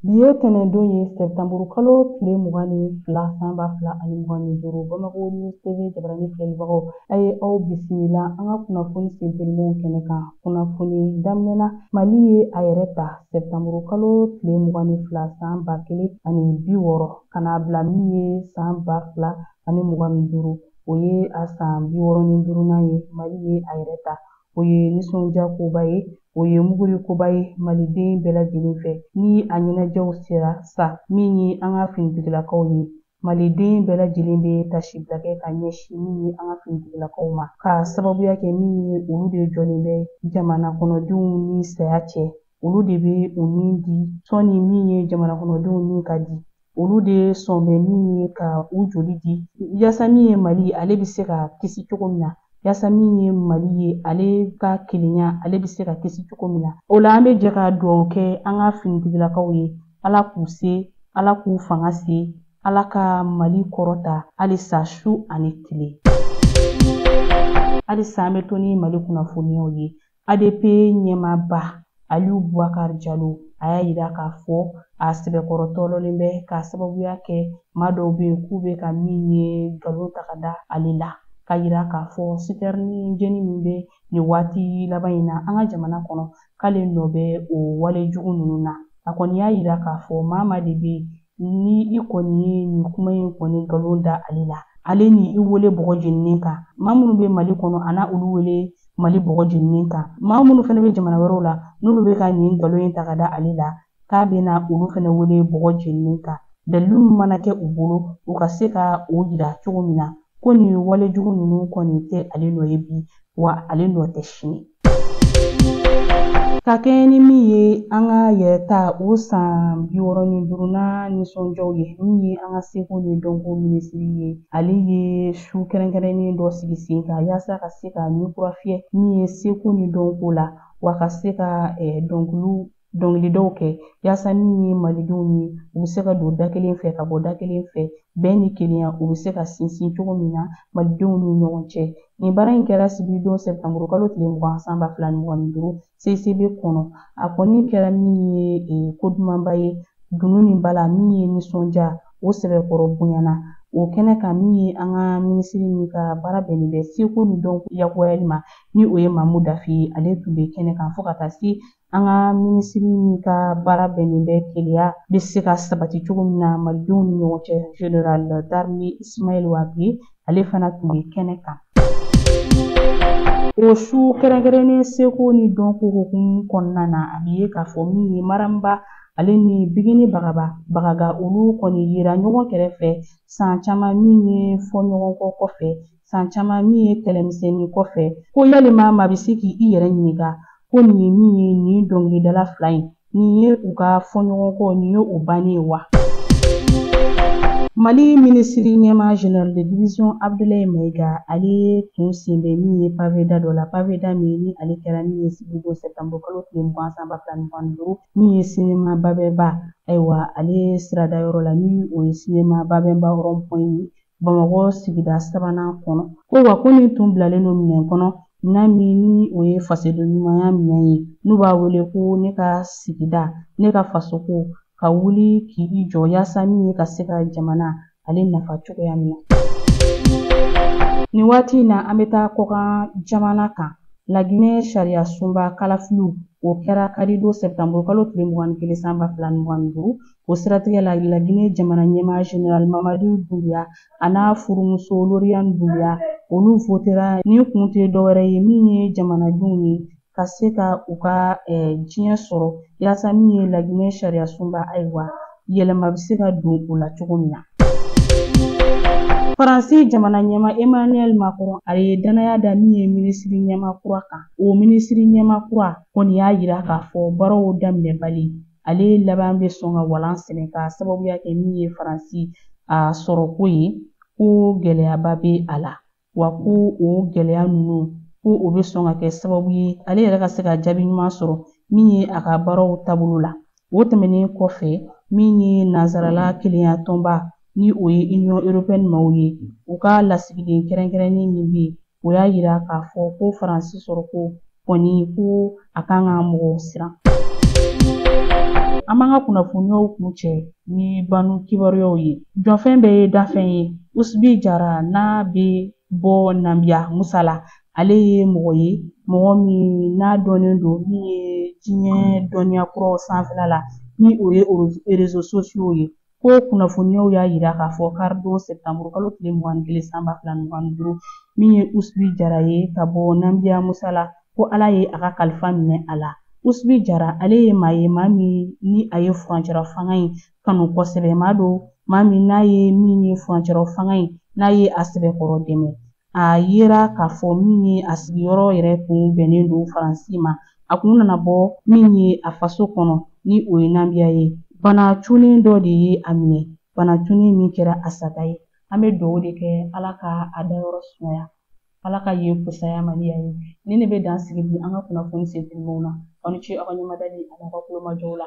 Bi ye tɛnɛndon ye sɛtanburu kalo tile mugan ni fila san ba fila ani mugan ni duuru Bamakɔ News TV jabarani filɛbagaw a ye aw bisimila an ka kunnafoni sentelimanw kɛnɛ kan kunnafoni daminɛ na mali ye a yɛrɛ ta sɛtanburu kalo tile mugan ni fila san ba kelen ani bi wɔɔrɔ ka n'a bila min ye san ba fila ani mugan ni duuru o ye a san bi wɔɔrɔ ni duurunan ye mali ye a yɛrɛ ta o ye nisɔndiya koba ye o ye muguri koba ye maliden bɛɛ lajɛlen fɛ ni a ɲɛnajɛw sera sa min ye an ka finitigilakaw ye maliden bɛɛ lajɛlen bɛ tasibila kɛ ka ɲɛsin min ye an ka finitigilakaw ma k'a sababuya kɛ min ye olu de jɔlen bɛ jamana kɔnɔdenw ni saya cɛ olu de bɛ u ni di sɔnni min ye jamana kɔnɔdenw ni ka di olu de sɔn bɛ min ye ka u joli di yasa min ye mali ye ale bɛ se ka kisi cogo min na yasa min ye mali ye ale ka kelenya ale bɛ se ka kisi cogo min na o la an bɛ jɛ ka dugawu kɛ an ka finitigilakaw ye ala k'u se ala k'u fanga se ala ka mali kɔrɔta halisa su ani tile halisa an bɛ to ni mali kunnafoniyaw ye ADP ɲɛmaaba Aliyu Bubakari Jalo a y'a yira k'a fɔ a sɛbɛkɔrɔ tɔɔrɔlen bɛ k'a sababuya kɛ maa dɔw bɛ yen k'u bɛ ka min ye nkalon ta ka da ale la k'a yira k'a fɔ sitɛrini jeni min bɛ nin waati laban in na an ka jamana kɔnɔ k'ale nɔ bɛ o wale jugu ninnu na a kɔni y'a yira k'a fɔ maa maa de bɛ yen Ni i kɔni ye nin kuma in kɔni nkalon da ale la ale ni i wele bɔgɔ jeninen kan maa minnu bɛ mali kɔnɔ a na olu wele mali bɔgɔ jeninen kan maa minnu fana bɛ jamana wɛrɛw la n'olu bɛ ka nin nkalon in ta ka da ale la k'a bɛna olu fana wele bɔgɔ jeninen kan dalilu min mana kɛ u bolo u ka se ka o yira cogo min na ko nin wale jugu ninnu kɔni tɛ ale nɔ ye bi wa ale nɔ tɛ sini ka kɛɲɛ ni min ye an ka yɛrɛta o san bi wɔɔrɔ ni duurunan nisɔndiyaw ye min ye an ka seko ni dɔnko minisiri ye ale ye su kɛrɛnkɛrɛnnen dɔ sigi sen kan yaasa ka se ka ni kura fiyɛ min ye seko ni dɔnko la wa ka se ka dɔnkiliw dɔnkilidaw kɛ yaasa min ye malidenw ye u bɛ se ka don da kelen fɛ ka bɔ da kelen fɛ bɛn ni kelenya u bɛ se ka sinsin cogo min na malidenw ni ɲɔgɔn cɛ nin baara in kɛra sibiridon sɛtanburu kalo tile mugan san ba fila ni mugan ni duuru CICB kɔnɔ a kɔni kɛra min ye ko dumanba ye dunun ni bala min ye nisɔndiya o sɛbɛkɔrɔ bonyana o kɛnɛ kan min ye an ka minisiri min ka baara bɛnnen bɛ seko ni dɔnko lakurayali ma ni o ye Mamu Dafe ye ale tun bɛ kɛnɛ kan fo ka taa se an ka minisiri min ka baara bɛnnen bɛ kelenya bɛ se ka sabati cogo min na malidenw ni ɲɔgɔn cɛ general d'armée ismail wage ale fana tun bɛ kɛnɛ kan o su kɛrɛnkɛrɛnnen seko ni dɔnko hukumu kɔnɔna na a bɛ ye k'a fɔ min ye mariam ba ale ni bigini bagaba bagaga olu kɔni yera ɲɔgɔn kɛrɛfɛ san caman min ye fɔɲɔgɔnkɔ kɔfɛ san caman min ye kɛlɛmisɛnnin kɔfɛ ko yalima maa bɛ se k'i yɛrɛ ɲininka ko nin ye min ye nin dɔnkilidala fila in nin ye u ka fɔɲɔgɔnkɔ nin ye o bannen ye wa mali minisiri ɲɛma general de division abdulayi mayiga ale ye tun sen bɛ min ye paveda dɔ la paveda min ni ale kɛra min ye sibiridon sɛtanburu kalo tile mugan san ba fila ni mugan ni duuru min ye sinema babɛnba ayiwa ale sirada yɔrɔ la ni o ye sinema babɛnba rond-point ye Bamakɔ sigida sabanan kɔnɔ ko wa ko nin tun bilalen don minɛn kɔnɔ minɛn min ni o ye fasoden ɲumanya minɛn ye n'u b'a wele ko ne ka sigida ne ka fasoko ka wuli k'i jɔ yaasa min ye ka se ka jamana ale nafa cogoya min na nin waati in na an bɛ taa kɔkan jamana kan laginɛ sariya sunba kalafiliw o kɛra karidon sɛptanburu kalo tile mugan ni kelen san ba fila ni mugan ni duuru O siratigɛ la Laginɛ jamana ɲɛmaa General Mamadu Dunbiya a n'a furumuso Loriyani Dunbiya olu votera ni kun tɛ dɔwɛrɛ ye min ye jamanadenw ye ka se ka u ka diɲɛ sɔrɔ yaasa min ye Laginɛ sariyasunba ayiwa yɛlɛma bɛ se ka don o la cogo min na. Faransi jamana ɲɛma Emmanuel Macron ale ye dannaya da min ye minisiri ɲɛma kura kan, o minisiri ɲɛma kura kɔni y'a yira k'a fɔ baaraw daminɛbali ale laban bɛ sɔn ka walan sɛnɛ ka sababuya kɛ min ye faransi a sɔrɔko ye ko gɛlɛyaba bɛ a la wa ko o gɛlɛya ninnu ko o bɛ sɔn ka kɛ sababu ye ale yɛrɛ ka se ka jaabi ɲuman sɔrɔ min ye a ka baaraw taabolo la o tɛmɛnen kɔfɛ min ye nansarala kelenya tɔnba ni o ye Union européenne maaw ye u ka lasigiden kɛrɛnkɛrɛnnen min bɛ yen o y'a yira k'a fɔ ko Faransi sɔrɔko kɔni ko a kan ka mɔgɔw siran. An b'an ka kunnafoniyaw kun cɛ ni banni kibaruyaw ye. Jɔfɛn bɛɛ ye dafɛn ye. Usubi Jara n'a bɛ bɔ Nambiya Musala, ale ye mɔgɔ ye mɔgɔ min n'a dɔnnen don min ye diɲɛ dɔnniya kuraw sanfɛla la ni o ye réseaux sociaux ye. Ko kunnafoniyaw y'a yira k'a fɔ karidon sɛptanburu kalo tile mugan ni kelen san ba fila mugan ni duuru min ye usubi jara ye ka bɔ nanbiya musala ko ala ye a ka kalifa minɛ a la usubi jara ale ye maa ye maa min ni a ye furancɛla fanga in kanu kosɛbɛ maa don maa min n'a ye min ye furancɛla fanga in n'a ye a sɛbɛkɔrɔ dɛmɛ A yera k'a fɔ min ye a sigiyɔrɔ yɛrɛ kun bɛnnen don Faransi ma, a kun nana bɔ min ye a faso kɔnɔ ni o ye Nambiya ye, bana cunnen dɔ de ye a minɛ, bana cunnen min kɛra a sata ye. An bɛ dugawu de kɛ Ala ka a dayɔrɔ sumaya, Ala ka yen fusaya a ma ni yan ye. Nin de bɛ dan sigi bi an ka kunnafoni sentelimanw na. Aw ni ce aw ka ɲɛmadali an'aw ka kulomajɔw la.